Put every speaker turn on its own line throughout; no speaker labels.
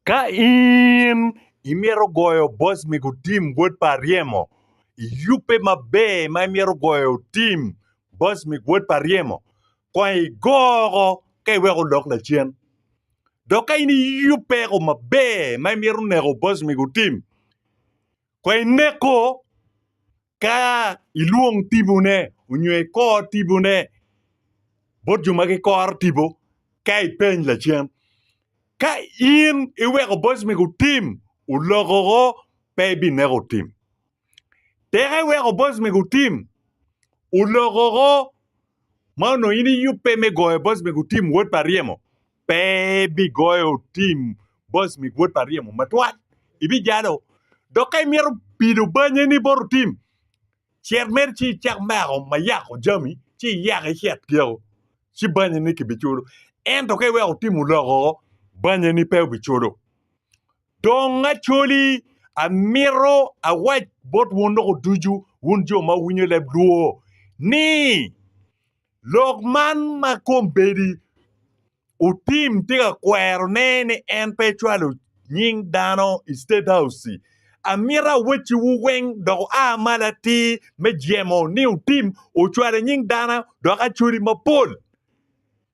Ka in imito goyo boc mego tim wod pa aryemo, iyubbe maber ma imito goyo tim boc mego wod pa aryemo, kong igoko ka iweko olok lacen. Dok ka in iyubbe ko maber ma imito neko boc mego tim, kong ineko Ka ilwong tibone onyo ikor tibone bot jo ma gikoro tipo ka ipeny lacen, ka in iweko boc mege otim olokoko pe ibineko otim. Tek iweko boc mege otim olokoko ma onongo in iyubbe me goyo boc mege otim wod pa ryemo. pe ibigoyo tim boc mi wod pa ryemo matwal, ibijalo. Dok ka imito pido banyeni bot tim, cet mere ci icak meko ma yako jami, ci iyak icet keko, ci banyeni kibiculo. Ento ka iweko tim oloko, banyeni pe obiculo. Dong acoli, amito awac bot wun loko ducu, wun jo ma wuwinyo leb lwor, ni Lok man ma kombeddi otim tye ka kwerone ni en pe ecwalo nying dano i State House-ci. Amito awacciwu weng dok wua malo atir me jemo ni otim ocwalo nying dano dok acwali mapol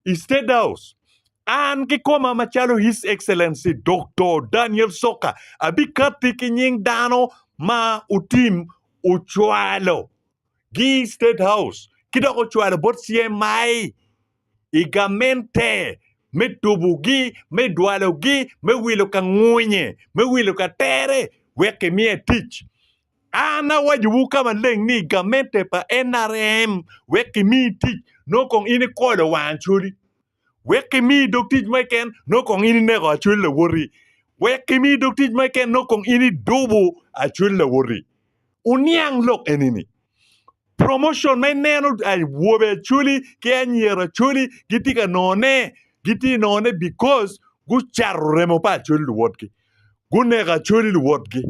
i State House. An kikoma macalo His Excellency Doktor Daniel Soka abikatti ki nying dano ma otim ocwalo. gi i State House ki dok ocwalo bot CMI i gamente me tubogi, me dwalogi, me wilo ka ngwunye, me wilo ka tere wek kimiye tic. An awacowu ka maleng ni gamente pa NRM wek kimiyi tic nongo kong in ikolo wang coli. wek kimi dog tic mo keken nongo kong in ineko acwel lawoti, wek kimi dog tic mo keken nongo kong in idubo acwel lawoti. Wuniang lok eni-ni, promotion ma ineno awobe acwali ki anyira acwali gitye ka nongone, gitye nongone because gucato remo pa acwali luwotgi, guneko acwali luwotgi.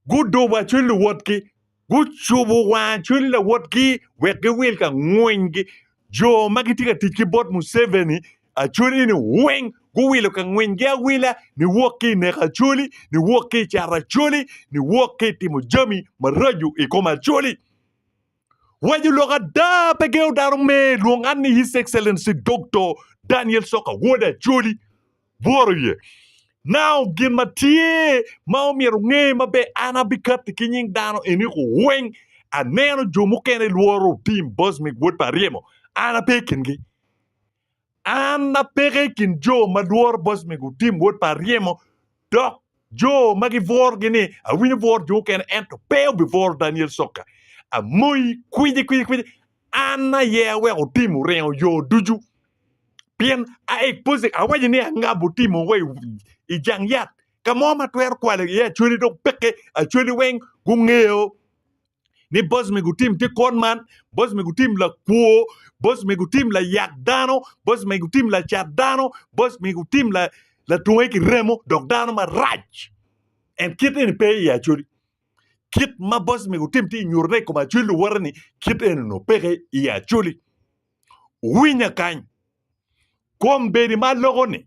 Guduba cwiny luwotgi, gucubo wang cwiny luwotgi wek giwil ka ngwingi. Jo ma gitye ka tic ki bot Museveni acwali ni weng guwilo ka ngwingi awila niwok ki i neko acwali, niwok ki i cato acwali, niwok ki i timo jami maraco i kom acwali. Waco lok ada, pe gengo dano me lwong an ni His Excellency Doktor Daniel Soka Wode Acholi. Bworo iye. Now, gin ma tye ma omyero nge maber, an abikatti ki nying dano eni ku weng aneno jo mukene lworo otim Bosmic Wod pa Aryemo, an ape i kingi. An apeke i kin jo ma lworo boc me gutim wod pa aryemo, dok jo ma gibworogi ni awinyo bworo jo mukene ento pe obibworo Daniel Sokka. Amoyi kwici kwici kwici, an aye aweko otim oringo yo ducu, pien a expose awaco ni angabo otimo wa i jang yat ka mo ma twero kwalo iye acwali dong peke acwali weng gungeyo ni boc me gutim tye kwon man, boc me gutim lakwo, boc me gutim layak dano, boc me gutim lacat dano, boc me gutim la latunge ki remo dok dano marac. En kit eni pe i Acoli. Kit ma boc me gutim tye nyutone i kom Acoli luwote ni kit eni onongo peke i Acoli. Winya kany. Kombeddi ma loko ni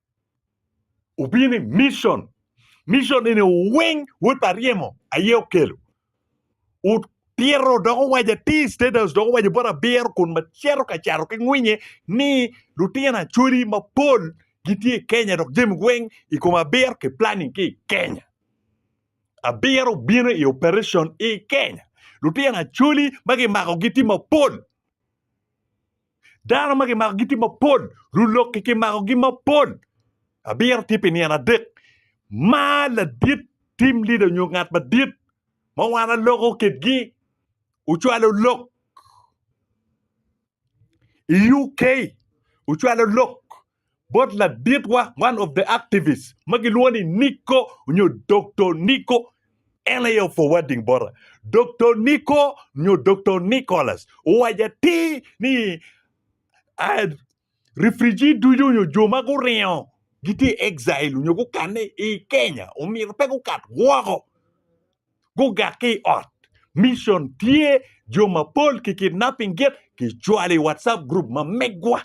Obino ni mission. Mission eni weng wod pa ryemo aye okelo. Otito dok owaco atir State House dok owaco bot abiro kun macito ka cato ki ngwinye ni lutino Acholi mapol gitye i Kenya dok jami weng i kom abiro ki planning ki i Kenya. Abiro obino i operation i Kenya. Lutino Acholi ma kimakogi tye mapol. Dano ma kimako gitye mapol, lulokke kimakogi mapol. Abiro tye pi nino adek. Ma ladit tim lida onyo ngat madit ma wan aloko kitgi ocwalo lok i UK ocwalo lok bot laditwa, one of the activists, ma gilwongo ni Nico nyo Doktor Nico, en aye o-forwarding bota. Doktor Nico nyo Doktor Nicholas owaco atir ni ah, refugee ducu nyo jo ma guringo gitye i exile nyo gukanne i Kenya omyero pe gukat woko, gugak ki i ot. Mission tye, jo mapol ki kidnapping git, kicwalo i WhatsApp group ma megwa.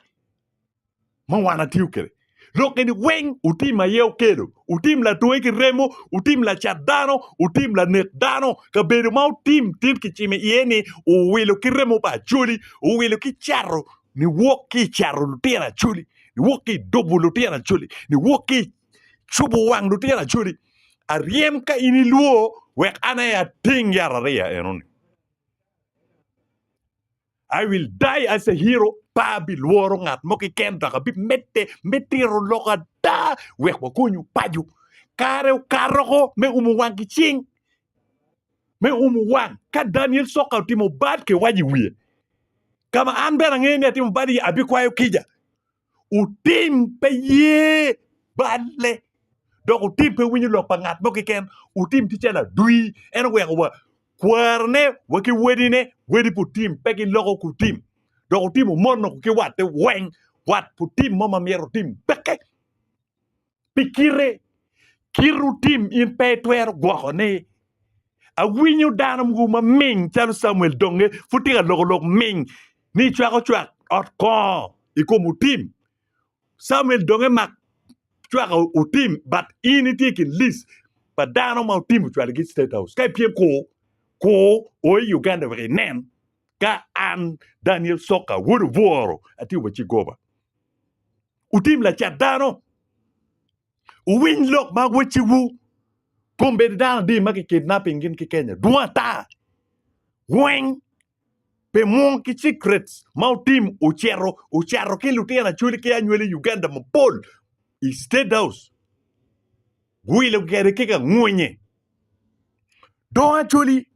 ma wan atiyo kede lok eni weng utim aye okelo utim latwe ki remo utim lacat dano utim lanek dano kabedo ma utim tit kicimo iye ni uwilo ki remo pa acoli uwilo ki cato niwok ki cato lutino acoli niwok ki dubo lutino acoli niwok ki cubo wang lutino acoli aryem ka in ilwo wek an aye ating yat ariya enoni I will die as a hero, pe abilworo ngat mo keken dok abimedde me tito lok ada wek wakonyu paco. Kare okato ko me umo wang ki cing. Me umo wang, ka Daniel Soka otimo bad ki wac i wiye, ka ma an bene angeyo ni atimo bad iye, abikwayo kica. Otim pe ye balle, dok otim pe winyo lok pa ngat mo keken. Otim tye calo adwi, en oweko wa kwarone wa ki wedine, wedi pa otim pe giloko ki otim, dok otim omono ki watte weng. Wat pa otim mo ma myero otim peke. pi kite, kite otim in pe itwero gwoko ni awinyo dano mogo ma ming calo Camuel donge pud tye ka loko lok ming ni icwako cwak ot kongo i kom otim Camuel donge mak cwak otim but in itye i kin list pa dano ma otim ocwalo gi state house ka ipyem ku ku o i Uganda wek inen ka an Daniel Soka wodo bworo atye wa ci goba. Wutim lacat dano. Wuwiny lok ma wecciwu. Kombeddi dano adi ma kikidnapping gin ki Kenya dwong ata. Weng pe mwong ki secrets ma wutim wucito wucato ki lutino acwali ki anywali Uganda mapol i State House guwilo kwede ki kangwonye. Dong acwali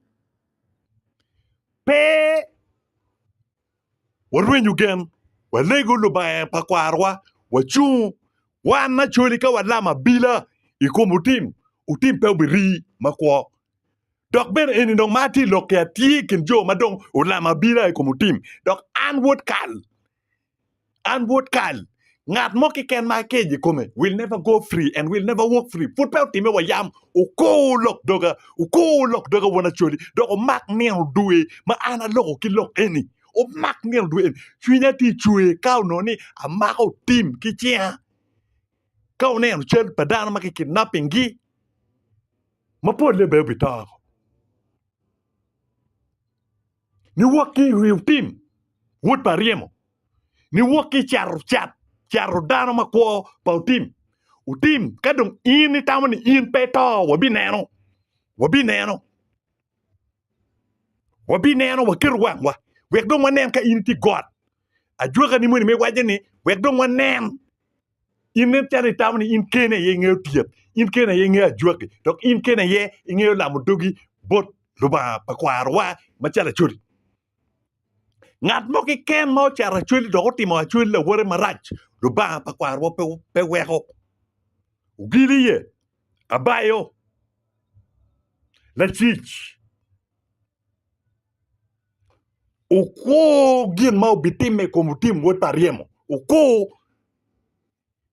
pe warwenyo gen, walego Lubanga pa kwarowa, wacung wan acoli ka walam abila i kom otim, otim pe obirii makwo. Dok bene eni dong ma atye lok ki atye i kin jo ma dong olam abila i kom otim, dok an wod kal. An Wod kal, ngat mo keken ma akejo i kome will never go free and will never walk free. Pud pe otime wa yam, okur lok doga, okur lok doga won Acholi, dok omak nino dwe ma an aloko ki lok eni. Omak nino dwe eni. Cwinya tye cwer ka onongo ni amako tim ki cinga. Ka oneno cal pa dano ma ki kidnapping gi, ma polle bene obi to. Niwok ki i Rehutim, wod pa Ryemo, niwok ki i Carucat, caru dano ma kwo pa Utim, Utim, ka dong in itamo ni in pe ito, wabineno, wabineno, wabineno, waketo wangwa, wek dong wanen ka in itye i got, ajwakani moni me waco ni, wek dong wanen In nen calo itamo ni in kene aye ingeyo tyet, in kene aye ingeyo ajwaki, dok in kene aye ingeyo lamo dogi bot Lubanga pa kwarowa macalo acwali. Ngat mo keken ma ocato acwali dok otimo acwali lawote marac, Lubanga pa kwarowa pe pe weko. Ogili iye, abayo, lacic. Okwo gin ma obitimme i kom Tim wod pa ryemo. Okwo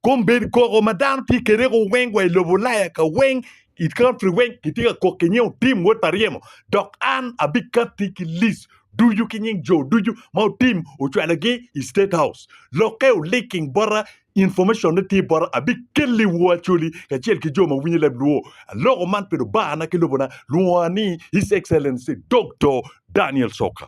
kombeddi koko ma dano tye kwede weng wa i lobo Ulaya ka weng i country weng kitye ka kok ki nying Otim wod pa ryemo dok an abikatti ki list ducu ki nying jo ducu ma Otim ocwalogi i state house. Lokke o linking bota Information ne tye bota abikelli woo Acholi kacel ki jo ma winyo leb luo aloko man pi lubanga ki lobona lwonga ni His Excellency Doktor Daniel Soka.